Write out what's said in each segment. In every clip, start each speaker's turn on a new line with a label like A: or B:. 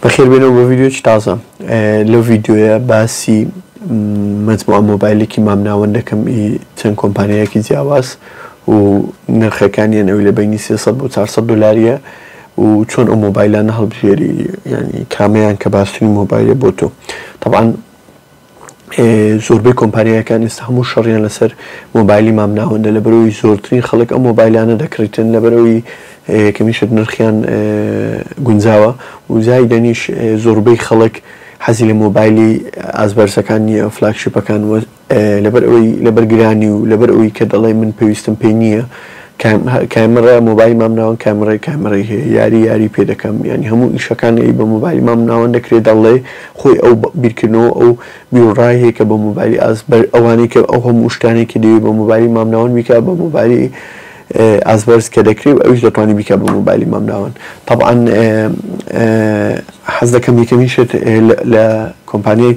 A: بەخێر بێنەوە بۆ ڤیدیۆکی تازە لەو ڤیدیۆیە باسی مجموعە مۆبایلێکی مامناوەند دەکەم ئی چەند کۆمپانیایەکی جیاواز و نرخەکانیان ئەو لە بینی 300 بۆ 400 دلاریە و چۆن ئەو مۆبایلانە هەڵبژێری ینی کامەیان کە باشترین مۆبایلە بۆ تۆ طبعاان زۆربەی کۆمپانیایەکان ئێستا هەموو شەڕیان لەسەر مۆبایلی مام ناوەندە لەبەرئەوەی زۆرترین خەڵک ئەم مۆبایلانە دەکڕیتن لەبەرئەوەی کەمیشت نرخیان گونجاوە و زایدەنیش زۆربەی خەڵک حەزی لە مۆبایلی ئاست بەرزەکان نییە فلاگشیپەکان لەبەرئەوەی لەبەر گرانی و لەبەرئەوەی کە دەڵێ من پێویستم پێی نییە کامێڕای مۆبایلی مامناوەند کامێڕای کامێڕای هەیە یاری یاری پێ دەکەم یانی هەموو ئیشەکان ی بە مۆبایلی مامناوەند دەکرێت دەڵێ خۆی ئەو بیرکردنەوە ئەو بیروڕای هەیە کە بە مۆبایلی ئاز بەر ئەوانەی کە ئەو هەموو شتانەی کە دەیەوێت بە مۆبایلی مامناوەند بیکات بە مۆبایلی ئاست بەرز کە دەکرێت و ئەویش دەتوانێت بیکات بە مۆبایلی مامناوەند تەبعەن حەز دەکەم یەکەمین شت لە کۆمپانیای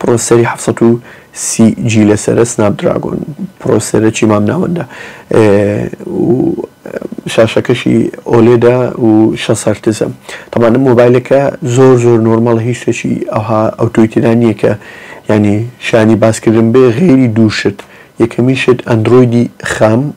A: پڕۆسەری حەفت سەد و سی جی لەسەرە سناپ دراگۆن پڕۆسەرەکی مامناوەندە و شاشەکەشی ئۆلێدە و شەست هەرتزە تەبان ئەم مۆبایلەکە زۆر زۆر نۆرماڵە هیچ شتێکی ئەوها ئەوتۆی تێدا نییە کە یانی شانی باسکردن بێ غەیری دوو شت یەکەمی شت ئەندرۆیدی خام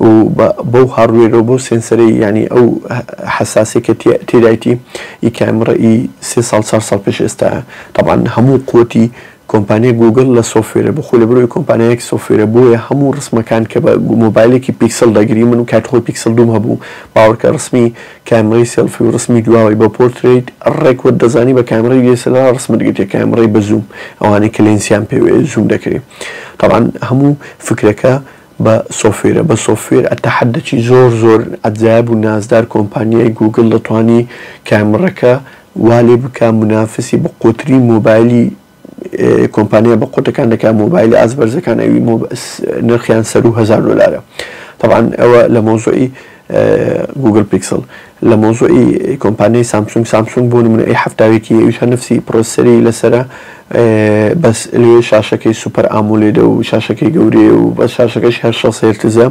A: و بەو هاڕوێرەو بەو سێنسەرەی یانی ئەو حەساسەی کە تێدایتی ئی کامڕە ئی سێ ساڵ چار ساڵ پێش ئێستایە تەبعەن هەموو قوتی کۆمپانیای گوگڵ لە سۆفوێرە بۆ خۆی لەبەرئەوەی کۆمپانیایەک سۆفوێرە بۆیە هەموو ڕسمەکان کە بە مۆبایلێکی پیکسڵ دەگری من کاتی خۆی پیکسڵ دووم هەبوو باوەڕکە ڕسمی کامڕەی سێڵفی و ڕسمی دواوەی بە پۆرترەیت ڕێک وەت دەزانی بە کامڕەی دی ئێس ئێل ئاڕ ڕسمت گرتێ کامڕەی بە زووم ئەوانەی کە لێنسیان پێوەیە زووم دەکرێ تەبعەن هەموو فکرەکە بە سۆفوێرە بە سۆفوێر ئەتەحەدەکی زۆر زۆر عەجایب و نازدار کۆمپانیای گووگڵ دەتوانی کامڕەکە وا لێ بکا منافسی بەقوەترین مۆبایلی کۆمپانیا بە قوتەکان دەکا مۆبایلە ئاست بەرزەکان ئەوی نرخیان سەروو هەزار دۆلارە تەبعەن ئەوە لە مەوزوعی گوگڵ پیکسڵ لە مەوزوعی کۆمپانیای سامسونگ سامسونگ بۆ نمونە ئەی حەفتا و یەکی ئەویش هەر نەفسی پڕۆسسەری لەسەرە بەس لەوێ شاشەکەی سوپەر ئامولێدە و شاشەکەی گەورەیە و بەس شاشەکەشی هەر شەست هێرتزە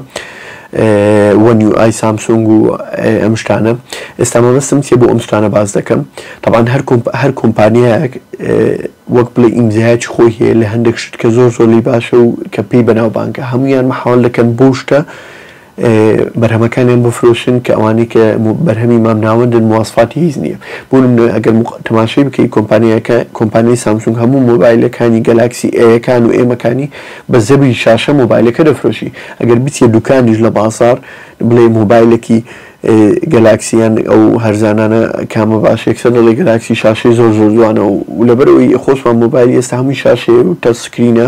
A: وەن یو ئای سامسونگ و ئەم شتانە ئێستا مەبەستم چیە بۆ ئەم شتانە باس دەکەم طبعا هەر هەر کۆمپانیایەک وەک بڵێ ئیمزایەکی خۆی هەیە لە هەندێک شت کە زۆر زۆر لی باشە و کە پێی بەناوبانگە هەمویان مەحاڵ دەکەن بۆ شتە بەرهەمەکانیان بفرۆشن کە ئەوانەی کە بەرهەمی مامناوەندن مواسفاتی هیچ نییە بۆ نمونە ئەگەر تەماشەی بکەی کۆمپانیاکە کۆمپانیای سامسونگ هەموو مۆبایلەکانی گەلاکسی ئەیەکان و ئێمەکانی بە زەبری شاشە مۆبایلەکە دەفرۆشی ئەگەر بچیە دوکانیش لە بازاڕ بڵێی مۆبایلەکی گەلاکسی یان ئەو هەرزانانە کامە باش یەکسەر دەڵێ گەلاکسی شاشەی زۆر زۆر جوانە و لەبەرەوەی خۆشمان مۆبایلی ئێستا هەمووی شاشەیە و تەچ سکرینە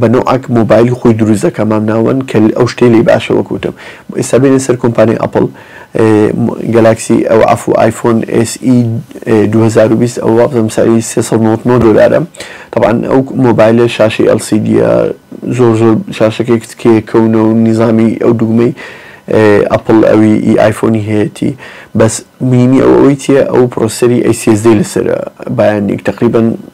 A: بە نۆعەک مۆبایلی خۆی دروست دەکا مام ناوەند کە ئەو شتەی لێی باشە وەک وتم ئێستا بێنە سەر کۆمپانیای ئەپڵ گەلاکسی ئەو عەفوو ئایفۆن ئێس ئی دوو هەزار و بیست ئەوە وابزانم سەعری سێ سەد و نەوەد و نۆ دۆلارە تەبعەن ئەو مۆبایلە شاشەی ئێڵ سی دییە زۆر زۆر شاشەکەی کچکەیە کەونە و نیزامی ئەو دووگمەی ئەپڵ ئەوی ئی ئایفۆنی هەیەتی بەس مینی ئەو ئەوەی چییە ئەو پڕۆسەری ئەی سی ئێس دی لەسەرە بایانیک تەقریبەن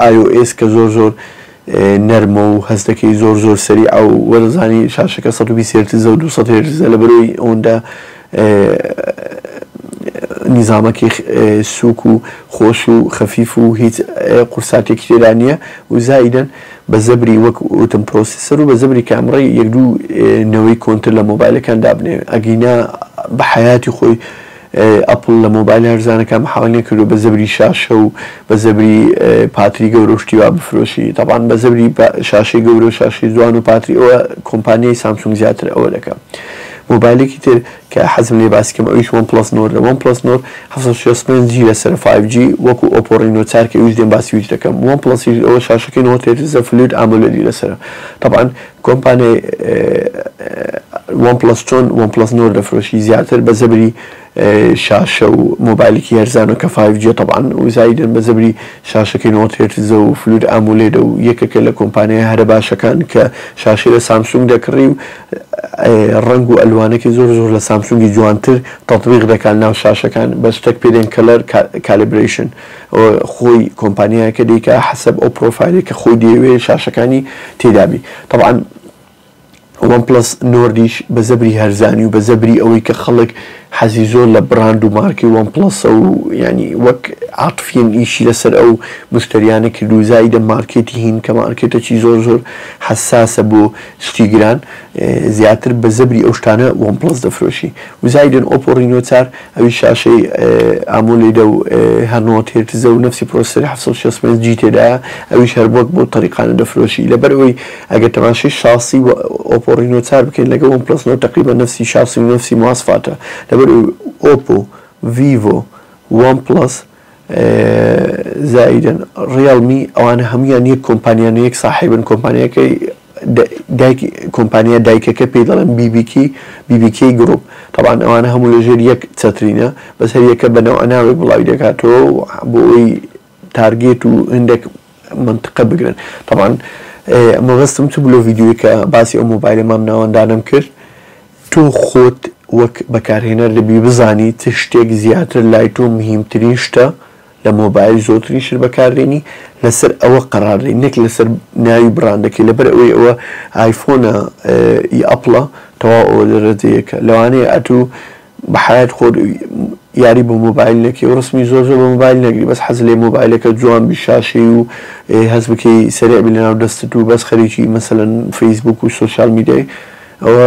A: ئای ئۆ ئێس کە زۆر زۆر نەرمە و هەست دەکەی زۆر زۆر سەریعە و وەرزانی شاشەکە سەد و بیست هێرتزە و دوو سەد هێرتزە لەبەرئەوەی ئەوەندە نیزامەکی سووک و خۆش و خەفیف و هیچ قورساتێکی تێدا نییە و زائیدەن بە زەبری وەک وتم پرۆسیسەر و بە زەبری کامڕەی یەک دوو نەوەی کۆنتر لە مۆبایلەکان دابنێ ئەگینا بە حەیاتی خۆی ئەپڵ لە مۆبایل هەرزانەکان محاڵ نەکردووە بە زەبری شاشە و بە زەبری پاتری گەورە و شتی وا بفرۆشی تەبعەن بە زەبری شاشەی گەورە و شاشەی جوان و پاتری ئەوە کۆمپانیای سامسونگ زیاتر ئەوە دەکا مۆبایلێکی تر کە حەزم لێ باسی کەم ئەویش وەن پڵەس نۆردە وەن پڵەس نۆر حەفتا و شەست و پێنج جی لەسەرە فایڤ جی وەکو ئۆپۆ ڕینۆ چار کە ئەویش دێم باسیش دەکەم وەن پڵەسیش ئەوە شاشەکەی نەوەد هێرتزە فلوید ئامۆلێدی لەسەرە تەبعەن کۆمپانیای وەن پڵەس چۆن وەن پڵەس نۆرد دەفرۆشی زیاتر بە زەبری شاشە و مۆبایلێکی هەرزانە کە فایڤ جیە تەبعەن و زایدەن بە زەبری شاشەکەی نەوەد هێرتزە و فلود ئامولێدە و یەکێکە لە کۆمپانیایە هەرە باشەکان کە شاشەی لە سامسونگ دەکڕی و ڕەنگ و ئەلوانەکی زۆر زۆر لە سامسونگی جوانتر تەتبیق دەکات ناو شاشەکان بەس شتەک پێدێن کەلەر کالیبرەیشن خۆی کۆمپانیایەکە دەیکا حەسەب ئەو پرۆفایلەی کە خۆی دەیەوێ شاشەکانی تێدا بی تەبعەن وەن پڵەس نۆردیش بە زەبری هەرزانی و بە زەبری ئەوەی کە خەڵک حەزی زۆر لە بڕاند و مارکەی وەن پڵەسە و یانی وەک عاتفیەن ئیشی لەسەر ئەو مشتەریانە کرد و زایدە مارکێتی هین کە مارکێتەچی زۆر زۆر حەساسە بۆ شتی گران زیاتر بە زەبری ئەو شتانە وەن پڵەس دەفرۆشی و زایدن ئۆپۆ ڕینۆ چار ئەویش شاشەی ئامۆلیدە و هە نۆت هێرتزە و نەفسی پرۆسسەری حەفت سەد و شەست و پێنج جی تێدایە ئەویش هەر بۆت بەو تەریقانە دەفرۆشی لەبەر ئەوەی ئەگەر تەماشەی شاسی ئۆپۆ ڕینۆ چار بکەین لەگەڵ وەن پڵەس نۆت تەقریبەن نەفسی شاسی و نەفسی مواسفاتە لەبەر ئەوەی ئۆپۆ ڤیڤۆ وەن پڵەس زایدن ڕیەڵمی ئەوانە هەموویان یەک کۆمپانیانە یەک ساحێبن کۆمپانیاکەی دایکی کۆمپانیا دایکەکە پێی دەڵێن بیبیکی، BBK Group، تەبعەن ئەوانە هەموو لە ژێر یەک چەترینە بەس هەر یەکە بە نەوعە ناوێک بڵاوی دەکاتەوە و بۆ ئەوەی تارگێت و هەندێک مەنتقە بگرن تەبعەن مەبەستم چ بوو لەو ڤیدیۆی کە باسی ئەو مۆبایلە مام ناوەندانەم کرد تۆ خۆت وەک بەکارهێنەر دەبی بزانی چ شتێک زیاتر لای تۆ مهیمترین شتە لە مۆبایل زۆرترین شت بەکاردێنی لەسەر ئەوە قەرار دەی نەک لەسەر ناوی بڕاندەکەی لەبەر ئەوەی ئەوە ئایفۆنە ی ئەپڵە تەواو ئەوە دەرەجە یەکە لەوانەیە ئەتوو بە حەیات خۆت یاری بە مۆبایل نەکەی و ڕسمی زۆر زۆر بە مۆبایل نەگری بەس حەز لێ مۆبایلەکە جوان بی شاشەی و هەست بکەی سەرێع بی لەناو دەستت و بەس خەریکی مەسەلەن فەیسبووک و سۆشیال میدیای ئەوە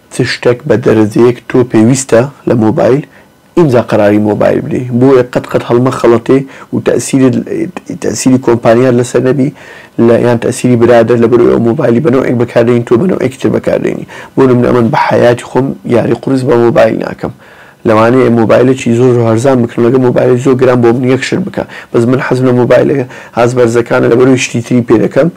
A: چ شتەک بە دەرەجەیەک تۆ پێویستە لە مۆبایل ئینجا قەراری مۆبایل بدەی بۆیە قەت قەت هەڵمەخەڵەتێ و تەئسیرت تەئسیری کۆمپانیات لەسەر نەبی لە یان تەئسیری برادەر لەبەر ئەوەی ئەو مۆبایلی بە نەوعێک بەکار دێنی تۆ بە نەوعێکی تر بەکار دێنی بۆ نمونە ئەمن بە حەیاتی خۆم یاری قورس بە مۆبایل ناکەم لەوانەیە مۆبایلەکی زۆر زۆر هەرزان بکڕم لەگەڵ مۆبایلەکی زۆر گران بۆ من یەک شت بکە بەس من حەزم لە مۆبایلە هاست بەرزەکانە لەبەرەوەی شتی تری پێ دەکەم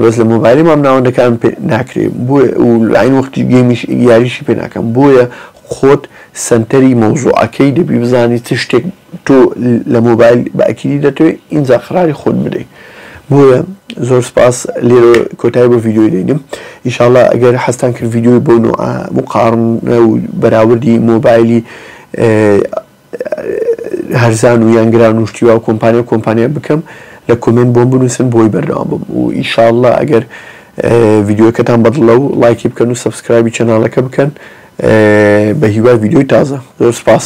A: بەس لە مۆبایلی مام ناوەندەکان پێ ناکرێ بۆیە و لاین وەختی گەیمیش یاریشی پێ ناکەم بۆیە خۆت سەنتەری مەوزوعەکەی دەبی بزانی چ شتێک تۆ لە مۆبایل بە ئەکیدی دەتەوێ ئینجا قەراری خۆت بدەی بۆیە زۆر سپاس لێرە کۆتای بۆ ڤیددیۆی دەینم ئیشاڵە ئەگەر حەستان کرد ڤیددیۆی بۆ نوع مقاڕن و بەراوردی مۆبایلی هەرزان و یانگران و شتیوا و کۆمپانیا و کۆمپانیا بکەم لە کۆمنت بۆم بنووسن بۆی بەردەوام بم و ئیشاڵە ئەگەر ڤیددیوەکەتان بەدڵە و لایکی بکەن و سبسکرایبی چەناڵەکە بکەن بە هیوای ڤیددیۆی تازە زۆر سپاس